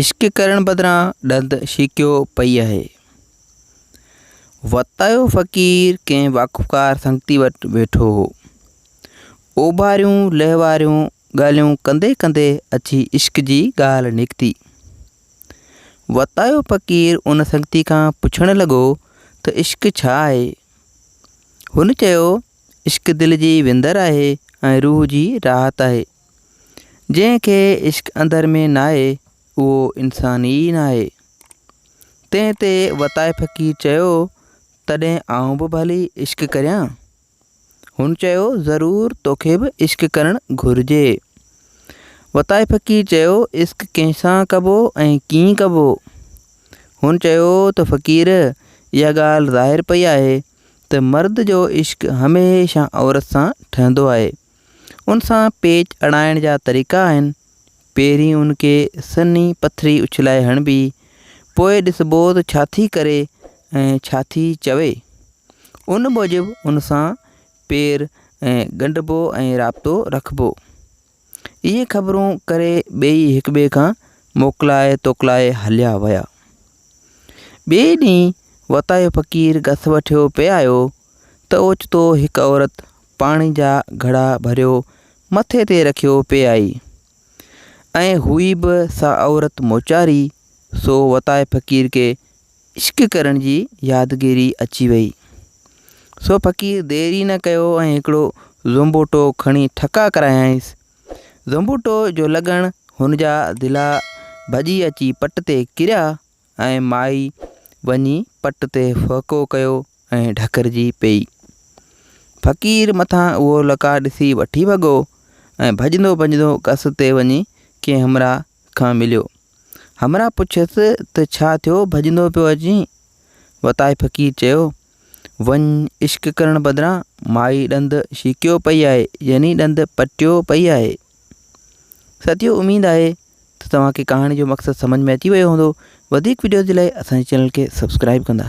عشق ڪرڻ بدران ڏند شيڪيو پئي آهي. وتايو فقير ڪنهن واقفڪار سنگتي وٽ ويٺو هو. اوڀاريون لهواريون ڳالهيون ڪندي ڪندي اچي عشق جي ڳالهه نڪتي. وتايو فقير ان سنگتي کان پڇڻ لڳو ته عشق ڇا آهي؟ هن چيو، عشق دل جي وندر آهي ۽ روح جي راحت آهي. جنهن کي عشق اندر ۾ ناهي اهو انسان ئي ناهي. تنهن تي وتائي فقير چيو، تڏهن آئون به ڀلي عشق ڪريان؟ هن چيو، ضرور توکي به عشق ڪرڻ گهرجي. وتائي فقير چيو، عشق ڪنهن سان ڪبو ۽ ڪيئن ڪبو؟ هن چيو ته فقير! اها ڳالهه ظاهر پئي آهي ته مرد جو عشق هميشه عورت سان ٺهندو آهي ان سان پيچ اڻائڻ جا طريقا آهن، پهرين ان کي سنهي پٿري اڇلائي هڻبي، پوء ڏسبو ته ڇا ٿي ڪري ۽ ڇا ٿي چوي. ان موجب ان سان پير ڳنڍبو ۽ رابطو رکبو. اهي خبرون ڪري ٻيئي هڪٻئي کان موڪلائي توڪلائي هليا ويا. ٻئي ڏينهن وتايو فقير گس وٺيو پئي آيو ته اوچتو هڪ عورت پاڻي جا گھڙا ڀريو مٿي تي رکيو پئي آئي ۽ هئي به سا عورت موچاري سو وتائي فقير کي عشق ڪرڻ جي يادگيري اچي وئي سو فقير دير ئي نه ڪيو ۽ هڪڙو زنبوٽو کڻي ٺڪا ڪرايائينس زنبوٽو جو لڳڻ هن جا دلا ڀڄي اچي پٽ تي ڪريا ۽ مائي وڃي پٽ تي ڦهڪو ڪيو ۽ ڍڪرجي پيئي. فقير مٿان اهو لقاء ڏسي وٺي ڀڳو ۽ ڀڄندو ڀڄندو گس تي وڃي ڪنهن همراهه کان مليو. همراهه پڇيس ته ڇا ٿيو ڀڄندو پيو اچين؟ وتائي فقير چيو، وڃ عشق ڪرڻ بدران مائي ڏند شيڪيو پئي آهي يعني ڏند پٽيو پئي آهي. ساٿيو اميد آهي ته توهان کي ڪهاڻي جو مقصد سمجھ ۾ اچي ويو هوندو وڌيڪ وڊيوز جي لاء اسان جي چينل کي سبسڪرائب ڪندا